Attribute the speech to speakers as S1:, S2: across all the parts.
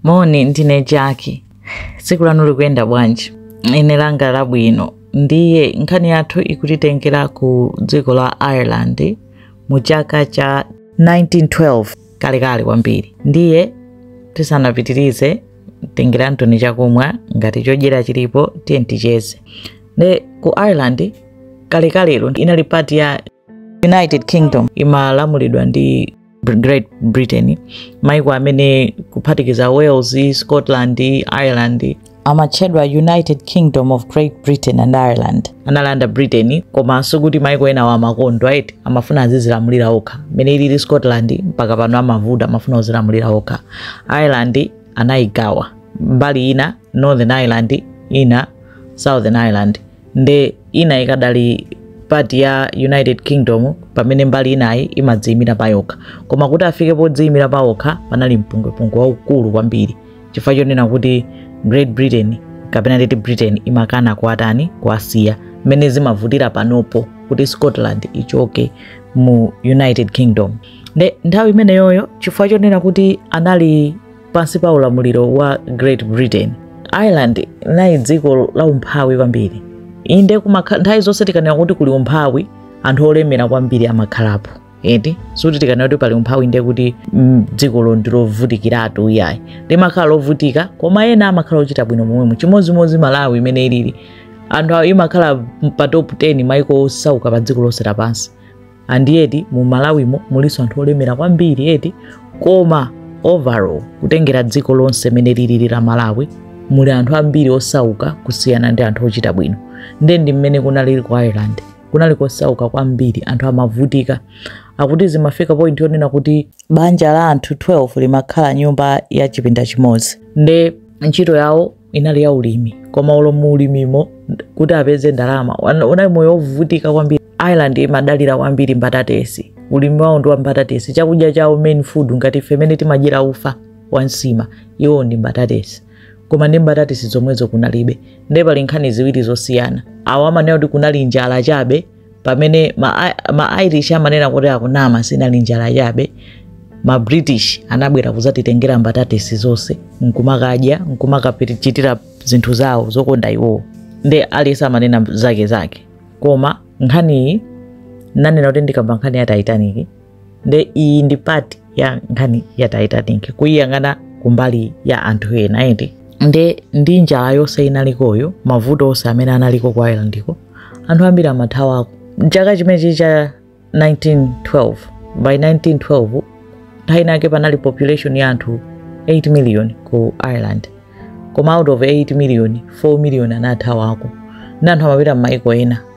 S1: moni ndine jaki tsiku lanu likuyenda bwanji ine langa labwino ndiye nkhani yathu ikutitengera ku dziko la ireland mu chaka cha 1912 kalekale kwambiri ndiye tisanapitirize tengerantoni chakumwa ngati chodyera chilipo tiyeni ticheze nde ku ireland kalekalero inali part ya united kingdom imalamulidwa ndi Br- great britain maiko amene kuphatikiza wales scotland ireland amatchedwa united kingdom of great britain and ireland analanda britain koma sikuti maiko enawo amakondwera ayi amafuna azidzilamulira okha mmene ilili scotland mpaka pano amavuta amafuna kudzilamulira okha ireland anayigawa mbali ina northern ireland ina southern ireland nde ina ikadali part ya united kingdom pamene mbali inayi imadziyimira payokha koma kuti afike podziyimira pawokha panali mpungwepungwe waukulu kwambiri chifukwa chonena kuti great britain kapena nditi britain imakana kuwatani kuwasiya mmene zimavutira panopo kuti scotland ichoke mu united kingdom nde nthawi imeneyoyo chifukwa chonena kuti anali pansi pa ulamuliro wa great britain ireland inali dziko la umphawi kwambiri inde kumakha- nthawi zonse tikanena kuti kuli umphawi anthu olemera kwambiri amakhalapo eti sikuti tikanena kuti pali umphawi ndiye kuti mm, dzikolo ndilovutikiratu iyayi limakhala lovutika koma ena amakhala ochita bwino momwemo chimodzimodzi malawi mmene ilili anthu awo imakhala pa top 10 maiko osauka pa dziko lonse lapansi ndiye eti mu malawimo mulinso anthu olemera kwambiri eti koma overall kutengera dziko lonse mene lilili la malawi muli anthu ambiri osauka kusiyana ndi anthu ochita bwino nde ndi mmene kunalili ku ireland kunali kosauka kwambiri anthu amavutika akuti zimafika point yonena kuti banja la anthu 12 limakhala nyumba ya chipinda chimodzi nde ntchito yawo inali ya ulimi koma olo mu ulimimo kuti apeze ndalama wana- unali moyo wovutika kwambiri ireland imadalira kwambiri mbatatesi ulimi wawo ndi wa mbatatesi chakudya chawo main food ngati ife mmene timadyera ufa wa nsima iwo ndi mbatatesi koma ndi mbatatesi zomwezo kunalibe ndiye pali nkhani ziwiri zosiyana awo amanena kuti kunali njala chabe pamene ma, ma irish amanena kuti akunama sinali njala chabe ma british anabwera kuzatitengera mbatatesi zonse nkumakadya nkumakachitira zinthu zawo zokonda iwowo nde aliyense amanena zake zake koma nkhaniyi nanena kuti ndikamba nkhani ya titanic nde iyi ndi part ya nkhani ya titanic kuyiyang'ana kumbali ya anthu ena eti nde ndi njala yonse inalikoyo mavuto onse amene analiko ku irelandiko anthu ambiri amathawako mchaka chimenechi cha 1912 by 1912 nthawi inake panali population ya anthu 8 million ku ireland koma out of 8 million 4 million anathawako nde anthu amapita m'maiko ena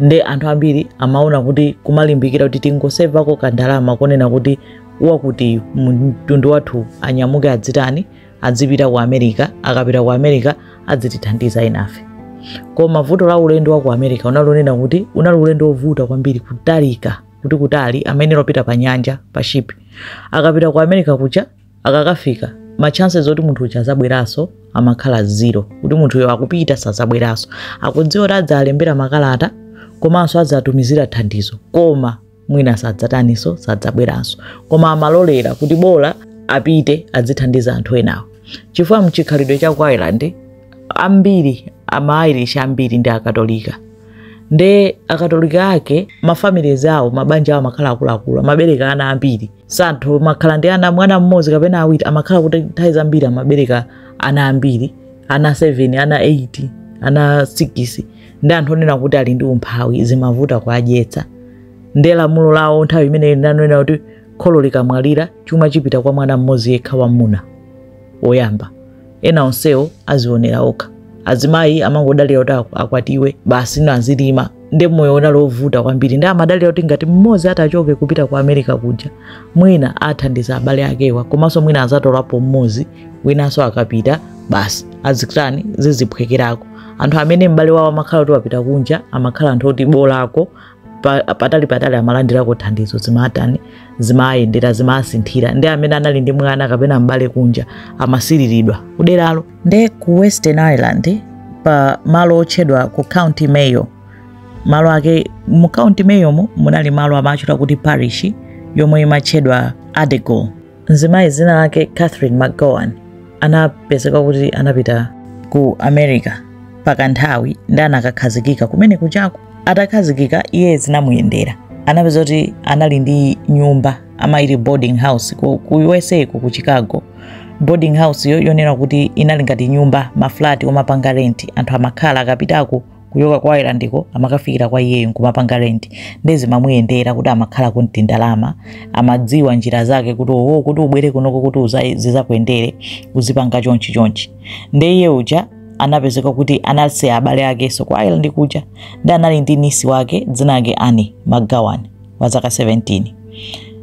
S1: nde anthu ambiri amaona kuti kumalimbikira kuti tingosevako kandalama konena kuti wakuti mtundu wathu anyamuke adzitani adzipita ku america akapita ku america adzitithandiza enafe koma vuto la ulendo wa ku america unali wonena kuti unali ulendo wovuta kwambiri kutalika kuti kutali amayenera kupita pa nyanja pa ship akapita ku america kuja akakafika ma chances oti munthu uja azabweranso amakhala zero kuti munthuyo akupita sazabweranso akudziwa kuti adzalembera makalata komanso adzatumizira thandizo koma mwina sadzataniso sadzabweranso koma amalolera kuti bola apite adzithandiza anthu enawo chifukwa mchikhalidwe cha ku ireland ambiri ama irish ambiri ndi akatolika nde akatolika ake mafamilies awo mabanja awo amakhala akuluakulu amabereka ana ambiri si anthu amakhala ndi ana mwana mmodzi kapena awiri amakhala kuti nthawi zambiri amabereka ana ambiri ana 7 ana 8 ana 6 ndi anthu onena kuti ali ndi umphawi zimavuta kuadyetsa nde lamulo lawo nthawi imeneyo linanena kuti kholo likamwalira chuma chipita kwa mwana mmodzi yekha wamwamuna woyamba ena onsewo azionera okha azimayi amangodalira kuti ak- akwatiwe basi ena azilima nde moyo unali wovuta kwambiri nde amadalira kuti ngati mmodzi atachoke kupita ku america kuja mwina athandiza abale akewa komanso mwina azatolapo mmodzi winanso akapita basi zizitani ziziphwekerako anthu amene m'bale wawo amakhala kuti wapita kunja amakhala anthu oti bolako pa- patali patali amalandirako thandizo zimatani zimayendera zimasinthira nde amene anali ndi mwana kapena m'bale kunja amasiriridwa kuderalo nde ku western ireland pa malo otchedwa ku county mayo malo ake mu county mayomo munali malo amatchedwa kuti parish yomwe imatchedwa addergoole mzimayi dzina lake catherine mcgowan anapezeka kuti anapita ku america pakanthawi nde anakakhazikika kumene kujako atakhazikika iye zinamuyendera anapezeka kuti anali ndi nyumba amati boarding house ku, ku usa ku, ku chicago boarding house yo yonena kuti inali ngati nyumba maflati omapanga renti anthu amakhala akapitako kuchoka ku irelandiko amakafikira kwa iyeyo nkumapanga rent nde zimamuyendera kuti amakhala kuti ndalama amadziwa njira zake kuti oho kuti ubwere kunoko kuti uza- zizakuyendere uzipanga chonchi chonchi nde iye uja anapezeka kuti anasiya abale akenso ku ireland kuja nde anali ndi nisi wake dzina lake ani mcgowan wa zaka 17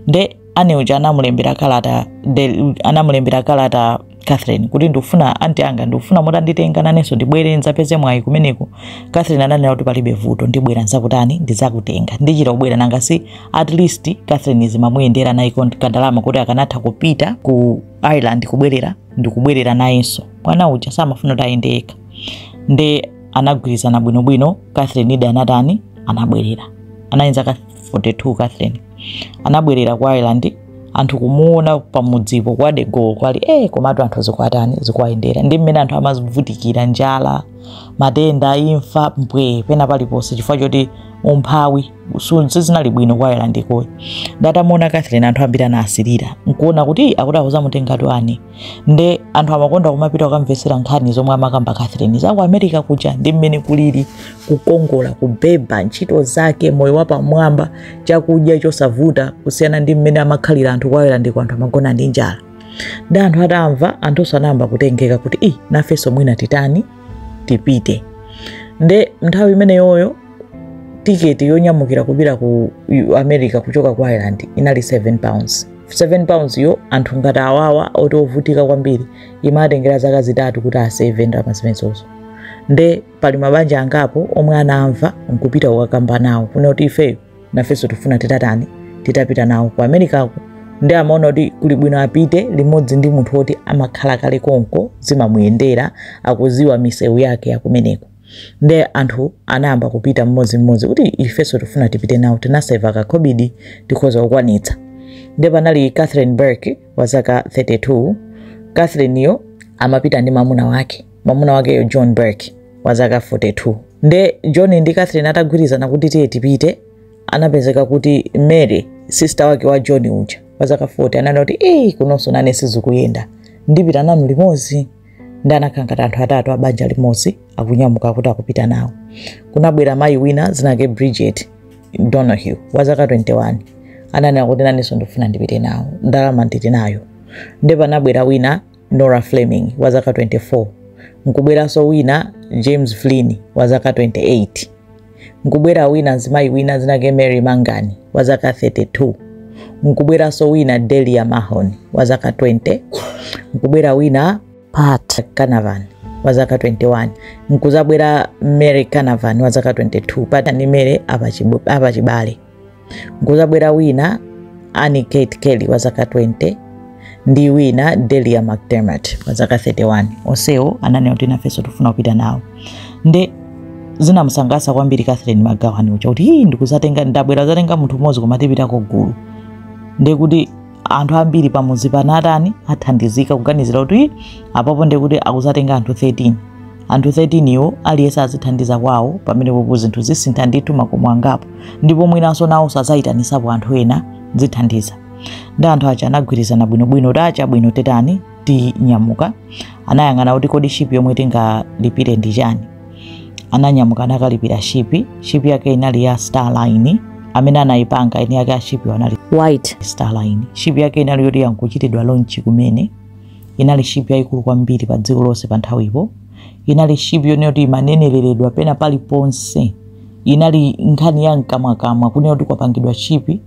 S1: nde ani uja anamulembera kalata de- anamulembera kalata catherine kuti ndikufuna anti anga ndikufuna mutanditenga nanenso ndibwere ndzapeze mwayi kumeneko catherine ananena kuti palibe vuto ndibwera ndzakutani ndidzakutenga ndichita kubwera nanga si at least catherine zimamuyendera naye kont- kandalama kuti akanatha kupita ku ireland kubwerera ndikubwerera nayenso mwana uja samafuna kuti ayende yekha nde anagwirizana bwinobwino catherine nde anatani anabwerera anayenza 42 catherine anabwerera ku ireland anthu kumuona pamudzipo kwa degowo kwali eh komatu anthu zikwatani zikuwayendera ndi mmene anthu amavutikira njala matenda imfa mpwe pena paliponse chifukwa choti umphawi su- sizinali bwino ku ireland ko iyo nde atamuona catherine anthu ambiri anasirira nkuona kuti akuti akuzamutengatu ani nde anthu amakonda kumapita kukamvetsera nkhani zomwe amakamba catherine za ku america kuja ndi mmene kulili kukongola kubeba ntchito zake moyo wapamwamba chakudya chosavuta kusiyana ndi mmene amakhalira anthu ku ireland ko anthu amagona ndi njala ndi anthu atamva anthunso anayamba kutengeka kuti i nafenso mwina titani tipite nde nthawi imeneyoyo tiketi yonyamukira kupita ku U- america kuchoka ku ireland inali 7 pounds 7 pounds yo anthu ngati awawa oti ovutika kwambiri imatengera zaka zitatu kuti aseve ndalama zimenezozo nde pali mabanja angapo omwe anamva nkupita kukakamba nawo kunena kuti ifeyo nafenso tifuna titatani titapita nawo ku americako nde amaona kuti kuli bwino apite limodzi ndi munthu woti amakhala kale konko zimamuyendera akuziwa misewu yake yakumeneko nde anthu anayamba kupita mmodzimmodzi kuti ifenso tifuna tipite nawo tinaseva kakhobidi tikhoza kukwanitsa nde panali catherine burke wa zaka 32 catherine yo amapita ndi mamuna wake mamuna wakeyo john burke wa zaka 42 nde john ndi catherine atagwirizana kuti tiye tipite anapezeka kuti mary sista wake wa john uja wa zaka 40 ananena kuti eyi kunonso nane sizikuyenda ndipita nanu limodzi ndi anakhala ngati anthu atatu abanja limodzi akunyamuka kuti akupita nawo kunabwera mayi wina dzinake bridget donahue wa zaka 21 ananena kuti nanenso ndikufuna ndipite nawo ndalama ndili nayo nde panabwera wina nora fleming wa zaka 24 nkubweranso wina james flynn wa zaka 28 nkubwera wina mzimayi wina zinake mary mangani wa zaka 32 nkubweranso wina delia mahon wa zaka 20 nkubwera wina pat canavan wa zaka 21 nkudzabwera mary canavan wa zaka 22 pata ndi mary apachibale Nkudzabwera wina Annie Kate Kelly wa zaka 20 ndi wina Delia McDermott wa zaka 31. Onsewo ananena kuti nafenso tifuna kupita nawo. Nde zinamusangalatsa kwambiri Catherine McGowan uja kuti hii ndikudzatenga ndabwera kudzatenga munthu mmodzi koma tipitako gulu. Nde kuti anthu ambiri pamudzi pano atani athandizika kuganizira kuti apapo nde kuti akudzatenga anthu 13 anthu 13 iwo aliyense azithandiza kwawo pamenepopo zinthu zisintha ndithu makomo angapo ndipo mwinanso nawonso adzayitanitsapo anthu ena zithandiza nde anthu aja anagwirizana bwinobwino kuti ah chabwino titani tinyamuka anayang'ana kuti kodi shipi yomwe tingalipire ndi chani ananyamuka anakalipira shipi shipi yake inali ya starline amene anayipanga eni yake ashipi anali white starline shipi yake inali yoti ikuchitidwa lonchi kumene inali shipi yayikulu kwambiri pa dziko lonse pa nthawipo inali shipi yonena kuti imaneneredwa pena paliponse inali nkhani ya mkamwakamwa kunena kuti kwapangidwa shipi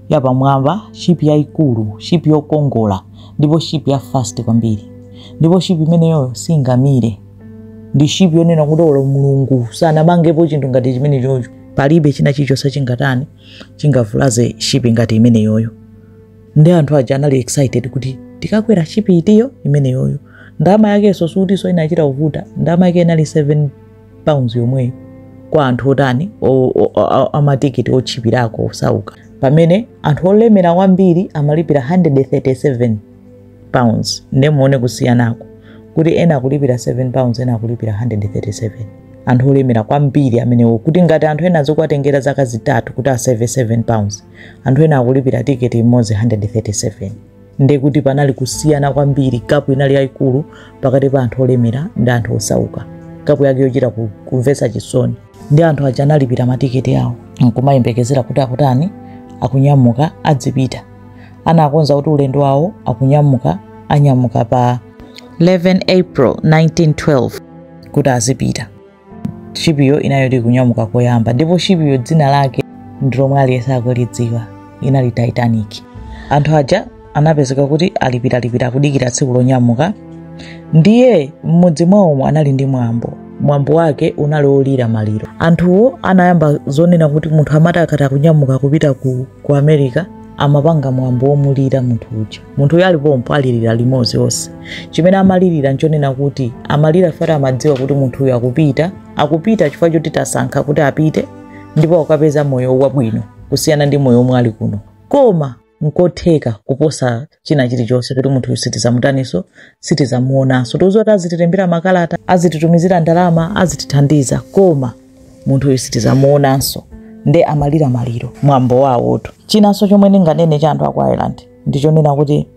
S1: yapamwamba shipi yayikulu shipi yokongola ndipo shipi ya fast kwambiri ndipo shipi imeneyo singamire ndi shipi yonena kuti olo mulungu sanamangepo chinthu ngati chimenechocho palibe china chilichonse chingatani chingavulaze shipi ngati imeneyoyo nde anthu aja anali excited kuti tikakwera shipi itiyo imeneyoyo ndalama yakenso sikutinso inachita kuvuta ndalama yake inali 7 pounds yomweyo kwa anthu otani o- o- o- amatikiti otchipirako osauka pamene anthu olemera kwambiri amalipira 137 pounds nde muone kusiyanako kuti ena akulipira 7 pounds ena akulipira 137 anthu olemera kwambiri amenewo kuti ngati anthu ena zikuwatengera zaka zitatu kuti aseve 7 pounds anthu ena akulipira tiketi imodzi 137 nde kuti panali kusiyana kwambiri gap inali yayikulu pakati pa anthu olemera ndi anthu osauka gap yake yochita ku- kumvetsa chisoni nde anthu aja analipira matiketi awo nkumayembekezera kuti akutani akunyamuka adzipita anakonza kuti ulendo wawo akunyamuka anyamuka pa 11 april 1912 kuti azipita shipiyo inali yoti ikunyamuka koyamba ndipo shipiyo dzina lake ndilomwe aliyense akulidziwa inali titanic anthu aja anapezeka kuti alipiralipira akudikira tsiku lonyamuka ndiye m'mudzi mwawomo anali ndi mwambo mwambo wake unali olira maliro anthuwo anayamba zonena kuti munthu amati akati akunyamuka kupita ku, ku america amapanga mwambo womulira munthu uja munthu uyo ali pompo alilira limodzi onse chimene amalilira nchonena kuti amalira poti amadziwa kuti munthu uyo akupita akupita chifukwa choti wasankha kuti apite ndipo akukapeza moyo wabwino kusiyana ndi moyo omwe ali kuno koma nkotheka kuposa china chilichonse kuti munthuyu sitizamutaninso sitizamuonanso tikuziwa kuti azitilembera makalata azititumizira ndalama azitithandiza koma munthuyu sitizamuonanso nde amalira maliro mwambo wawotu chinanso chomwe ndinganene cha anthu aku ireland ndichonena kuti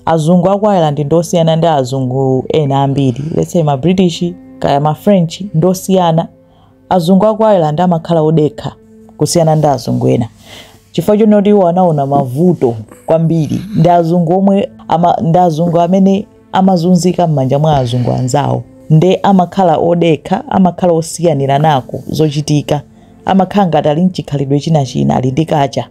S1: azungu aku ireland ndosiyana ndi azungu ena ambiri let's say ma british kaya ma french ndosiyana azungu aku ireland amakhala odekha kusiyana ndi azungu ena chifukwa chonena kuti iwo anaona mavuto kwambiri ndi azungu omwe ama, ndi azungu amene amazunzika m'manja mwa azungu anzawo nde amakhala odekha amakhala osiyanirana ko zochitika amakhala ngati ali nchikhalidwe china china ali ndi culture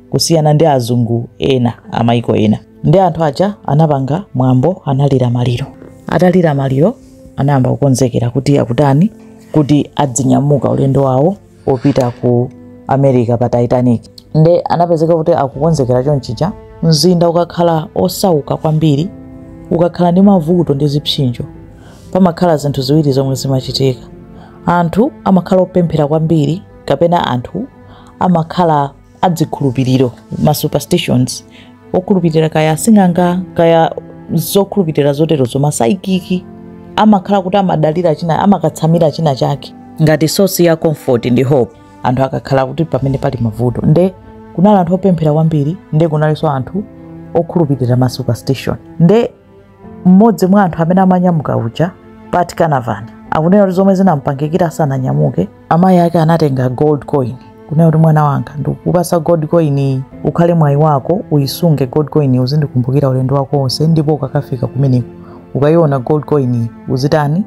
S1: kusiyana ndi azungu ena amaiko ena nde anthu aja anapanga mwambo analira maliro atalira maliro anayamba kukonzekera kuti akutani kuti adzinyamuka ulendo wawo opita ku america pa titanic nde anapezeka kuti akukonzekera chonchija mzinda ukakhala osauka kwambiri ukakhala ndi mavuto ndi zipsinjo pamakhala zinthu ziwiri zomwe zimachitika anthu amakhala opemphera kwambiri kapena anthu amakhala azikhulupiriro ma superstitions okhulupirira kaya asing'anga kaya zokhulupirira zoterozo ma psychic amakhala kuti amadalira china amakatsamira china chake ngati source ya comfort ndi hope anthu akakhala kuti pamene pali mavuto nde kunali anthu opemphera kwambiri nde kunalinso anthu okhulupirira ma superstition nde mmodzi mwa anthu amene amanyamuka uja pat canavan akunena kuti zomwe zinampangikira asananyamuke amayi ake anatenga gold coin kunena kuti mwana wanga ndikupasa gold coin iyi ukhale mwayi wako uyisunge gold coin iyi uzindikumbukira ulendo wako wonse ndipo ukakafika kumeneko ukayiona gold coin iyi uzitani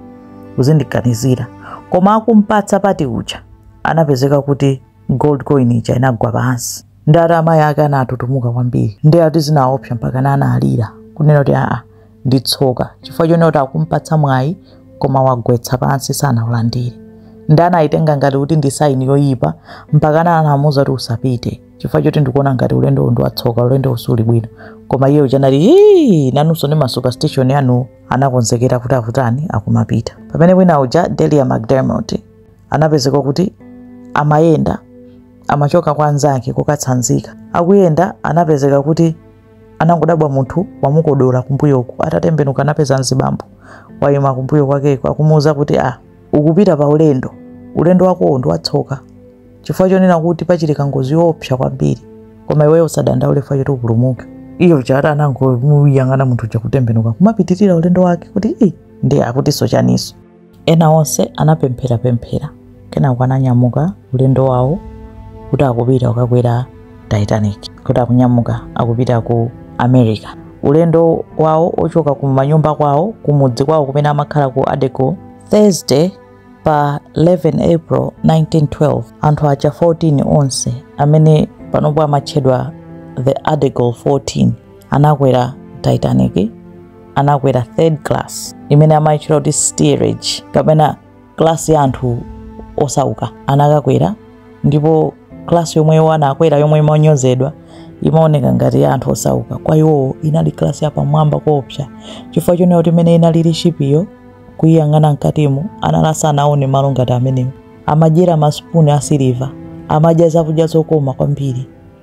S1: uzindiganizira koma akumpatsa pat uja anapezeka kuti gold coin ija inagwa pansi nde ati amayi ake anatutumuka kwambiri nde ati zinawaopsa mpaka ana analira kunena kuti aa ndi tsoka chifukwa chonena kuti akumpatsa mwayi koma wagwetsa pansi sanaulandire nde anayitenga ngati kuti ndi saini yoyipa mpaka ana anamuwuza kuti usapite chifukwa choti ndikuona ngati ulendo uwu ndi watsoka ulendo uwu suli bwino koma iye uja anati hii nanunso ndi ma superstition anu anakonzekera kuti akutani akumapita pamene wina uja delia mcdermot anapezeka kuti amayenda amachoka kwa anzake kukatsanzika. Akuyenda anapezeka kuti anangodabwa munthu wamukodola kumbuyoku, atatembenuka anapeza mzibambo wayima kumbuyo kwakeko akumuwuza kuti a ah, ukupita pa ulendo, ulendo wakowo ndi watsoka chifukwa chonena kuti pachitika ngozi yoopsa kwambiri, koma iweyo usadandaule chifukwa choti upulumuke. Iye chabe anangomuyang'ana munthu uja kutembenuka kumapitirira ulendo wake kuti i ndiye akutinso chaniso Ena onse anapempherapemphera kenako ananyamuka ulendo wawo kuti akupita kukakwera Titanic, kuti akunyamuka akupita ku America. Ulendo wawo ochoka ku manyumba kwawo kumudzi kwawo kumene amakhala ku Addergoole, Thursday pa 11 April 1912, anthu aja 14 onse amene panopo amatchedwa the Addergoole 14 anakwera titanic anakwera third class imene amayitchula kuti steerage kapena class ya anthu osauka anakakwera ndipo class yomwe iwo anakwera yomwe imanyozedwa imaoneka ngati ya anthu osauka kwa iwowo inali class yapamwamba koopsa chifukwa chonena kuti mmene inalili shipiyo kuyiyang'ana mkatimo anali asanaone malo ngati amenewo amadyera masipuni asiliva amadya zakudya zokoma kwambiri